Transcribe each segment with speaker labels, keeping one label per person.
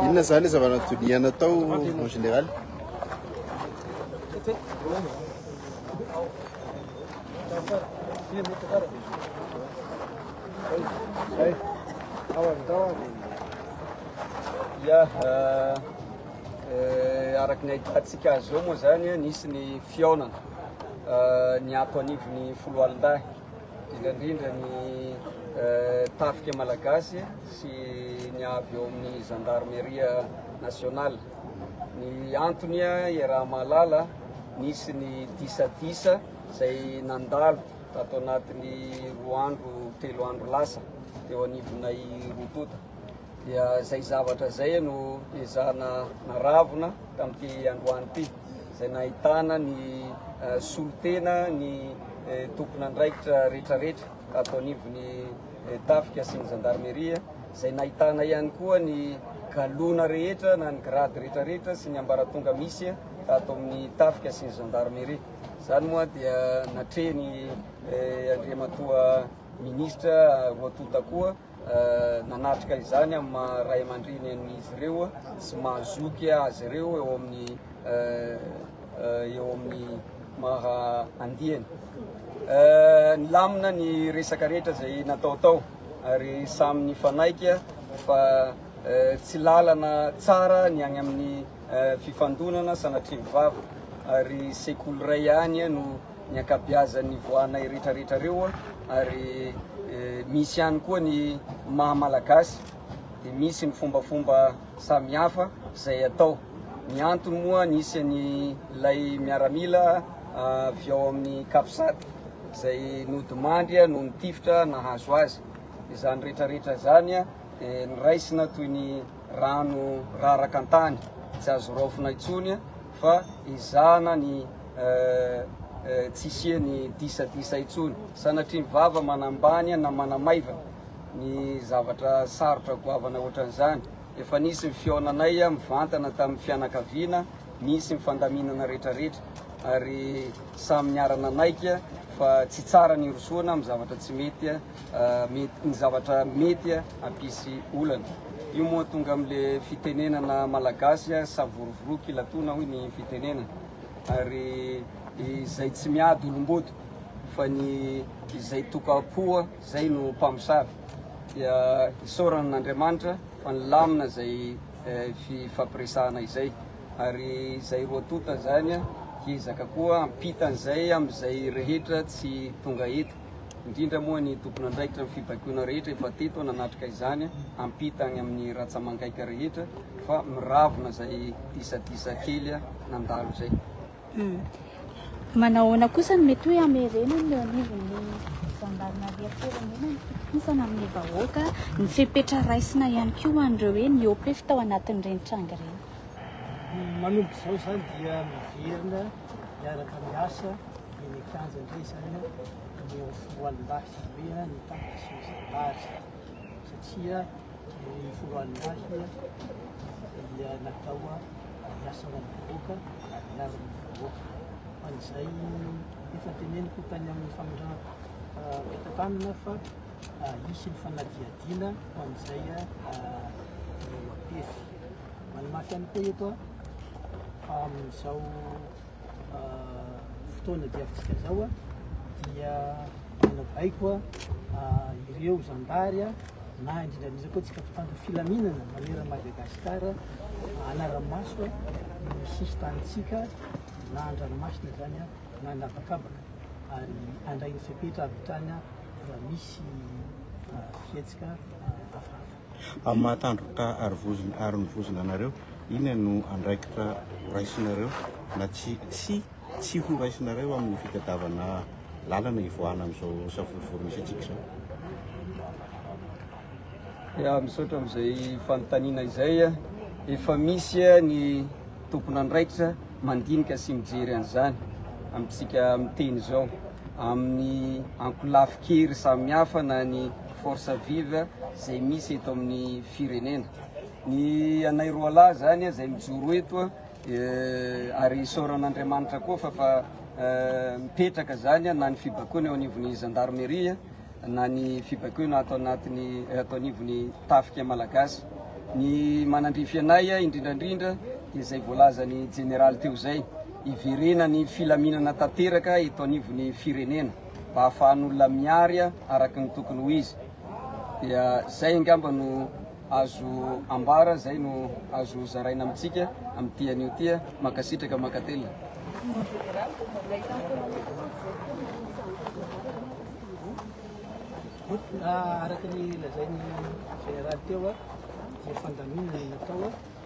Speaker 1: Inona izany ilay zava-natoloniana atao en général?
Speaker 2: Ya, eh, eh, araka ny ahitantsika azy eo moa izany, nisy ny fihaonana eh, niato anivon'ny foloalindahy. Indrindra ny tafika malagasy sy ny avy eo amin'ny Gendarmerie nationale. Ny antony iaraha-mahalala, nisy ny disadisa izay nandalo tato anatin'ny roa andro, telo andro lasa teo anivonay roa tonta. Dia izay zavatra izay no ezahana naravona tamin'ity androany ity. izay nahitana ny solontena ny tompon'andraikitra rehetrarehetra ato anivon'ny tafika sy ny zandarmeria, izay nahitana ihany koa ny galona rehetra na ny grade rehetrarehetra sy ny ambaratonga misy ato amin'ny tafika sy ny zandarmeria. Izany moa dia natrehiny Andriamatoa Minisitra roa tonta koa. nanatrika izany amin'ny maha ray aman-dreny an'izy ireo sy maha zoky azy ireo eo amin'ny eo amin'ny maha andiany. Nilamina ny resaka rehetra izay natao tao ary samy nifanaiky fa tsy lalana tsara ny any amin'ny fifandonana sanatria mivavaka ary sekoly iray ihany no ny ankabiazan'ny voanay retraretra reo ary misy ihany koa ny maha malagasy dia misy ny fombafomba samihafa izay atao ny antony moa nisy ny lay miaramila avy ao amin'ny capsat izay nodimandry no nitifitra nahazo azy izany retraretra izany dia niraisina toy ny rano raraka an-tany tsy azo raofina intsony fa ezahana ny tsy hisian'ny disadisa intsony. Sanatria ny vava manambany na manamaivana ny zavatra sarotra goavana ohatran'izany. Efa nisy ny fihaonanay mivantana tamin'ny fianakaviana, nisy ny fandaminana rehetrarehetra ary samy niara-nanaiky fa tsy tsara ny hirosoana amin'ny zavatra tsy mety. ny zavatra mety hampisy olana. Io moa tonga amin'le fitenenana malagasy savorovoroky ilatoana hoy ny fitenenana. Ary izay tsy miady olomboto fa ny izay tokam-poa zay no mpamosavy. Dia isaorana an'Andriamanitra fa nilamina izay eh, fifampiresahana izay. Ary izay roa tonta zany hiezaka koa ampitan'izay amin'izay rehetra tsy tonga eto. indrindra moa ny tompon'andraikitra ny fibaikoana rehetra efa teto nanatrika izany ampita any amin'ny ratsamangaika rehetra fa miravona izay disadisa kely nandalo izay hmm.
Speaker 3: manahoana kosa ny mety hoe amerenany ny anivon'ny zandarmaria firenena ny fitokisana amin'ny vahoaka ny fepetra raisina ihany koa hoan'ireo hoe ny opef tao anatin'ireny tranga ireny
Speaker 4: manomboka izao izany dia miverina miaraka miasa Eny an-kianja indray izany ny ao Foloalindahy Izahay dia nitantana sy nizabary satria ny Foloalindahy dia natao hiasana ny vahoaka ary hiaro ny vahoaka. Fa izay efa teneniko tany amin'ny famindrana fitantanana fa hisy ny fanadihadiana ho an'izay ireo mapefy. Manamafy ihany koa eto fa amin'izao fotoana diavintsika izao dia manabaiko ireo zandary na indrindra indrindra koa tsika mpitandro filaminana manera Madagasikara anaramaso ny sisin-tanintsika na andranomasina izany na anabakabaka ary andrain'ny fepetra avy hatrany raha misy fihetsika hafahafa. Amin'ny maha
Speaker 1: tandroka ary vozona ary ny vozona anareo, inona no andraikitra horaisinareo na tsy tsy tsy horaisinareo amin'ny fitadiavana lalana hivoahana amin'izao savorovoro misy antsika izao?
Speaker 2: Ya, misaotra amin'izay fanontaniana izay. Efa misy ny tompon'andraikitra mandinika sy mijery an'izany amintsika miteny izao, amin'ny ankolafin-kery samihafa na ny force vive zay misy eto amin'ny firenena. Ny anay roalahy zany zay mijoro eto ary isaoran'Andriamanitra koa fa fa mipetraka zany na ny fibaikoana eo anivon'ny gendarmerie na ny fibaikoana ato anatin'ny ato anivon'ny tafika malagasy. Ny manandrify anay indrindrandrindra dia izay voalazan'ny jeneraly teo izay, hiverenan'ny filaminana tanteraka eto anivon'ny firenena. mba hahafahan'olona mihary araka ny tokony ho izy. Dia izay angamba no azo ambara, izay no azo zaraina amintsika amin'ity anio ity. Mankasitraka, mankatelina. Araka ny lazain'ny Général teo dia fandaminana ny natao.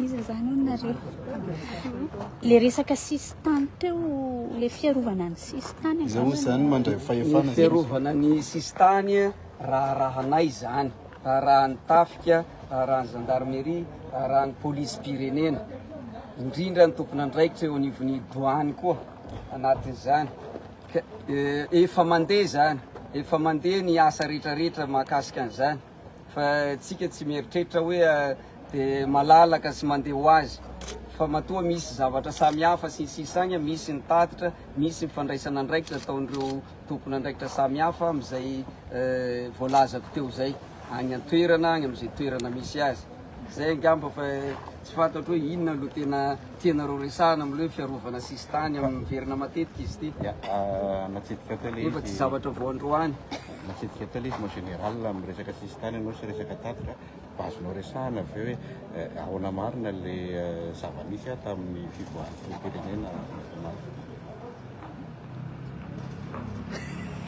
Speaker 3: Iza zany hono nareo? Le resaka sisintany teo, le fiarovana ny sisintany. Iza hono zany mandray
Speaker 1: fahefana? Fiarovana ny
Speaker 2: sisintany raharahanay zany, raharahan'ny tafika, raharahan'ny gendarmerie, raharahan'ny polisim-pirenena, indrindra ny tompon'andraikitra eo anivon'ny douane koa anatin'izany. Efa mandeha zany, efa mandeha ny asa rehetrarehetra mahakasika an'izany. Fa tsika tsy mieritreritra hoe de malalaka sy mandeha ho azy fa matoa misy zavatra samy hafa sy ny sisa agny misy ny tatitra misy ny fandraisana andraikitra ataon'ireo tompon'andraikitra samy hafa amin'izay voalazako teo zay agny an-toerana agny amin'izay toerana misy azy zay angamba fa Tsy fantatro hoe inona no tena tianareo resahana amin'ilay hoe fiarovana sisintany amin'ny miverina matetika izy ity. Ya, ah, natsidika
Speaker 1: teo ilay izy. Efa tsy zavatra vao androany.
Speaker 2: Natsidika teo ilay
Speaker 1: izy, mon général, amin'ny resaka sisintany ianao sy resaka tatitra, mba azonao resahana avy eo hoe eh, ahoana marina ilay eh, zava-nisy ah, tamin'ny fivoahan'ny filoham-pirenena Rajaonarimampianina.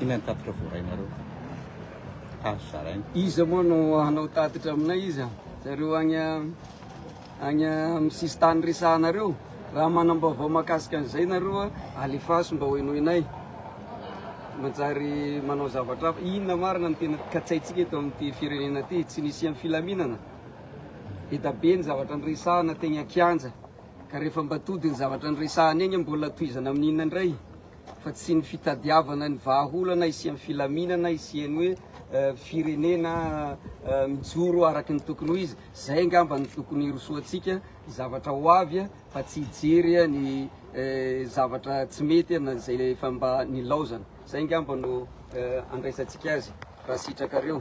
Speaker 1: Inona ny tatitra voarainareo? Hazo zaraina. Iza moa no
Speaker 2: hanao tatitra aminay izy? Zareo agny agny amin'ny sisintany resahanareo. Raha manam-baovao mahakasika an'izay nareo, alefaso mba hohenoinay. Manjary manao zavatra hafa. Inona marina no tena katsaintsika eto amin'ity firenena ity? Tsy nisian'ny filaminana? Eda be ny zavatra niresahana teny an-kianja, ka rehefa mba tody ny zavatra niresahana egny, mbola tohizana amin'inona indray? Fa tsy ny fitadiavana ny vahaolana hisian'ny filaminana, hisian'ny hoe firenena mijoro araka ny tokony ho izy. Zay angamba no tokony hirosoantsika zavatra ho avy a, fa tsy hijery a ny zavatra tsy mety a na zay efa mba nilaozana. Zay angamba no andraisantsika azy raha sitrakareo.